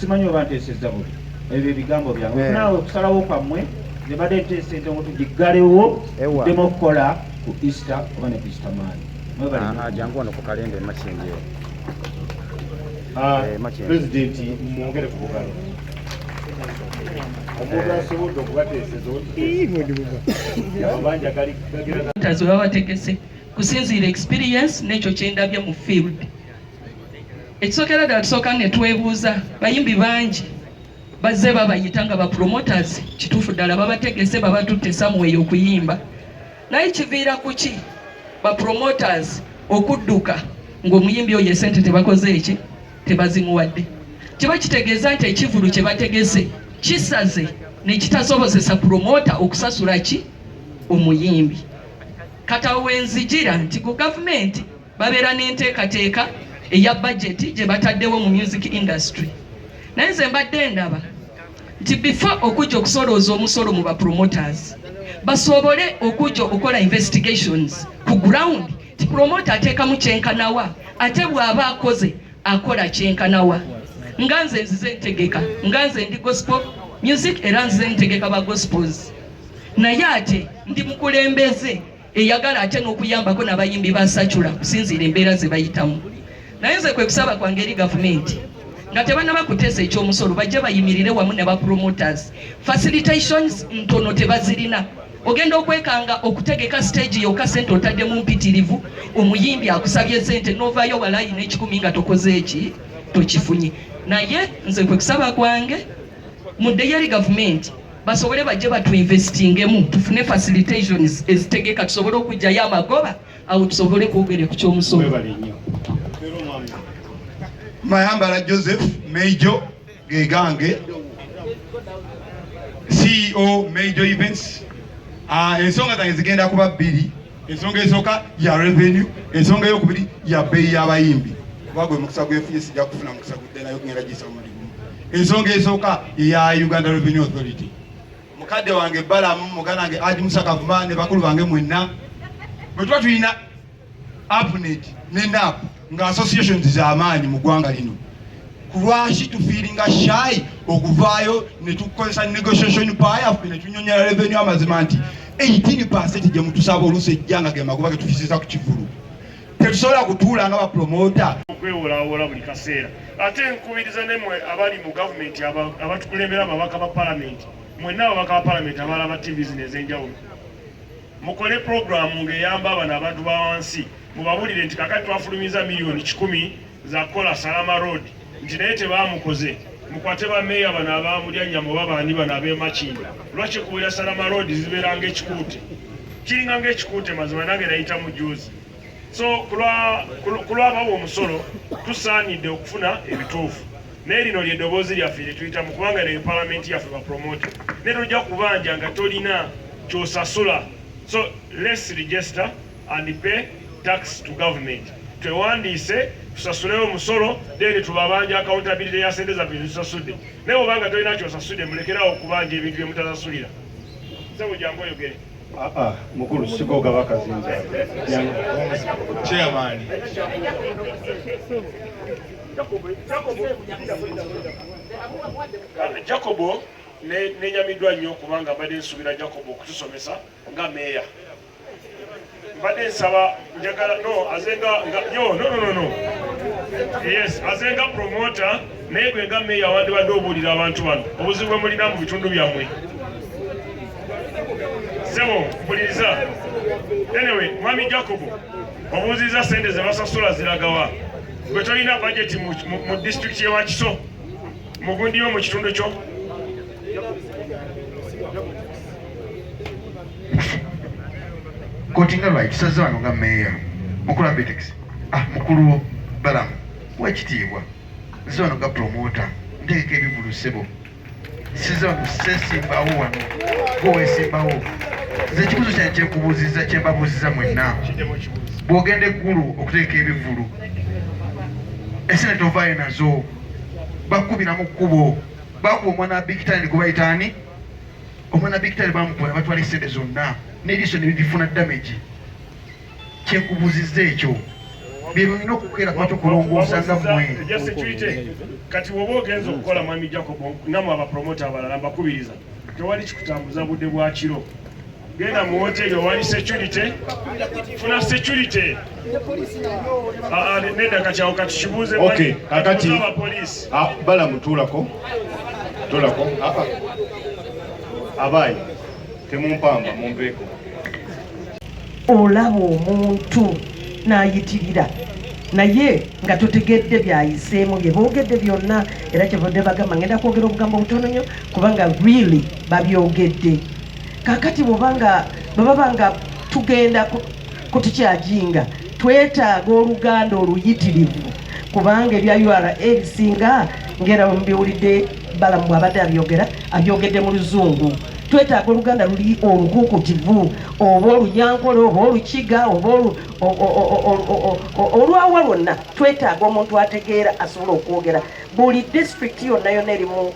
simanyi oba nteesezza buli ebyo ebigambo byange eh. naawe okusalawo kwammwe nze badde nteesa entongo tugiggalewo ddemu okukola ku easter oba ne easter maani ah, ah, jangu wano ku kalenda emakindi ah, eh, pulezidenti mwongere ku bugalo omuntu eh. asobodde okubateeseza obanja galigagera babategese kusinziira experience n'ekyo kyendabye mu field ekisookera ddala tusooka ne twebuuza bayimbi bangi bazze babayita nga bapromoters kituufu ddala babategese babatutte samuweyo okuyimba naye kiviira ku ki bapromoters okudduka ng'omuyimbi oyo esente tebakoze eki tebazimuwadde kiba kitegeeza nti ekivulu kye bategese kisaze nekitasobozesa promota okusasula ki omuyimbi kata wenzijira nti ku gavumenti babeera n'enteekateeka eya bajeti gye bataddewo mu music industry naye nze mbadde ndaba nti bifa okujja okusolooza omusolo mu bapromoters basobole okujja okukola investigations ku ground ti promota ateekamu kyenkanawa ate bw'aba akoze akola kyenkanawa nga nze nzize ntegeka nga nze ndi gospel music era nzize ntegeka ba gospels naye ate ndi mukulembeze eyagala ate n'okuyambako nabayimbi ba sacula kusinziira embeera zebayitamu naye nze kwekusaba kwange eri gavumenti nga tebanaba kuteesa ekyomusolo bajje bayimirire wamu ne bapromoters facilitations ntono tebazirina ogenda okwekanga okutegeka stage yoka sente otaddemu mpitirivu omuyimbi akusabye sente novayo walayi nekikumi nga tokoze eki tokifunye naye nze kwekusaba kwange muddeyo eri gavumenti basobole bajje batuinvestingemu tufune facilitations ezitegeka tusobole okujjayo amagoba awo tusobole kwogere ku kyomusolo mayambala joseph meijo gegange ceo meijo events ah, ensonga zange zigenda kuba bbiri Ensonga esooka ya revenue, ensonga eyokubiri ya bbeeyi y'abayimbi kuba gwe mukisa gwefunye sijja kufuna mukisa gudde nayo ngenda gisa muli gumu. Ensonga esooka ya Uganda Revenue Authority. Mukadde wange Balamu, muganda wange Haji Musa Kavuma ne bakulu bange mwenna bwe tuba tulina APNET ne NAP nga associations zamaanyi mu ggwanga lino kulwaki tufiiringa shayi okuvaayo netukozesa negotiation power netunyonyola revenue amazima nti 18 pasenti gyemutusaba oluusi ejja nga gemagoba getufisiza ku kivulu tetusobola kutuula nga bapromota okwewolawola buli kaseera ate nkubiriza nemwe abali mu gavumenti abatukulembera ababaka ba palamenti mwenna ababaka ba palamenti abaala ba tv zino ez'enjawulo mukole puroguramu ng'eyamba abano abantu ba wansi Mubabulire nti kakati twafulumiza miliyoni kikumi za kukola Salama Road nti naye tebaamukoze mukwate ba meeya bano abaamulyanyama oba baani bano ab'emakinga lwaki kuwera Salama Road zibeera ng'ekikuute kiringa ng'ekikuute mazima nange nayita mu juuzi so ku lwabawa omusolo tusaanidde okufuna ebituufu naye lino ly'eddoboozi lyaffe lye tuyitamu kubanga naye palamenti yaffe bapromote naye tojja kubanja nga tolina kyosasula so let's register and pay tax to government twewandiise tusasulewo omusolo then tubabanja accountability ya sente zaffe zitusasudde naye obanga tolina kyosasudde mulekerawo okubanja ebintu byemutasasulira sebo jangu oyogere ah, ah, mukulu sigoga bakazinza chairman jacobo nenyamiddwa nnyo kubanga mbadde nsuubira jacobo okutusomesa nga meeya mbadde nsaba njagala no azenga nga yo no no no no yes azenga promoter naye gwe nga meeya wandibadde obuulira abantu bano obuzibu bwe mulina mu bitundu byammwe sebo mpuliriza anyway mwami jacobo obuuzizza sente ze basasula ziragawa gwe tolina bajeti mu disitulikiti yewakiso mugundi yo mu kitundu kyo kkooti nga lwakisaze wano nga meeya mukulu abitex ah mukulu balamu wekitiibwa nze wano nga promota nteeka ebivulu ssebo size wano sesimbawo wano gowesimbawo nze ekibuzo kyane kyekubuuziza kyembabuuziza mwenna bwogenda eggulu okuteeka ebivulu esene tovaayo nazo bakubira mu kkubo bakuba omwana wa bigitani kubayitaani omwana bikitale bamukola batwala esente zonna n'eriiso nebibifuna damage kyekubuziza ekyo byebulina okukeera kwatu kulongoosa nga mwe kati woba ogenza okukola mwami jacob namwe abapromota abalala mbakubiriza tewali kikutambuza budde bwakiro genda mu woteri owali security funa security ah, ah, neda kakyawo katukibuuze kakati ah, bala mutuulako tulako abaayi temumpamba mumpeeko olaba omuntu n'ayitirira naye nga totegedde byayiseemu bye boogedde byonna era kyevadde bagamba ngenda kwogera obugambo butono nnyo kubanga really babyogedde kakati bwoba nga bwebaba nga tugenda kutukyajinga twetaaga oluganda oluyitirivu kubanga ebya ura ebisinga ngera mubiwulidde balamu bwabadde abyogera abyogedde mu luzungu twetaaga oluganda luli olukukutivu oba olunyankole oba olukiga oba olwawa lwonna twetaaga omuntu ategeera asobola okwogera buli disitulikiti yonna yonna erimu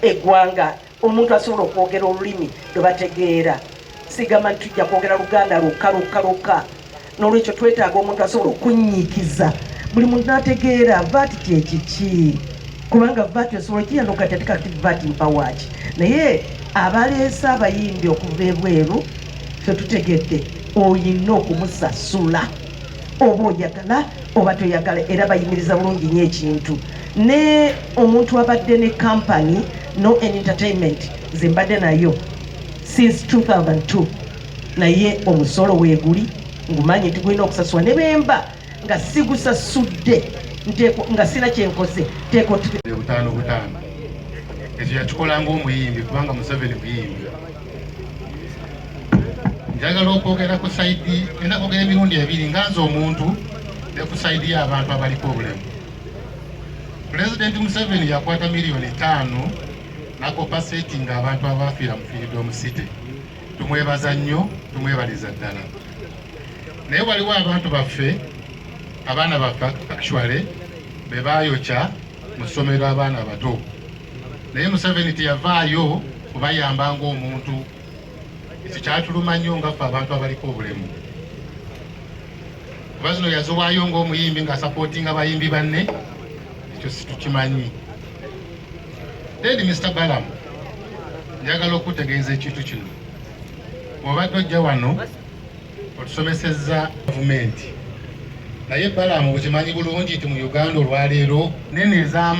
eggwanga Omuntu asobola okwogera olulimi lwe bategeera. Sigamba nti tujja kwogera Luganda lwokka lwokka lwokka. N'olwekyo twetaaga omuntu asobola okunnyiikiza buli muntu n'ategeera VAT kye kiki, kubanga VAT osobola okiyano kati ate kati VAT mpawa ki? Naye abaleese abayimbi okuva ebweru ffe tutegedde olina okumusasula. oba oyagala oba toyagala era bayimiriza bulungi nyo ekintu ne omuntu abadde ne company no en entertainment nze mbadde nayo since 2002 naye omusolo weguli ngumanyi nti gulina okusasula ne bemba nga sigusasudde nga sina kyenkoze tekotano butano ekyo yakikola ngaomuyimbi kubanga museveni muyimbi njagala okwogera ku saidi enda kwogera emirundi ebiri nga nze omuntu ne ku saidi y'abantu abaliko obulemu pulezidenti museveni yakwata miliyoni etaano nakopa seti nga abantu abafiira mu firidom city tumwebaza nnyo tumwebaliza ddala naye waliwo abantu baffe abaana baffe actually be baayokya mu ssomero abaana abato naye Museveni teyavaayo kubayamba ng'omuntu. Ekyo kyatuluma nnyo nga ffe abantu abaliko obulemu, kuba zino yaziwaayo ng'omuyimbi nga sapootinga bayimbi banne, ekyo situkimanyi. Then Mr. Balamu, njagala okutegeeza ekintu kino, obadde ojja wano otusomesezza gavumenti, naye Balamu okimanyi bulungi nti mu Uganda olwaleero nene ezaamu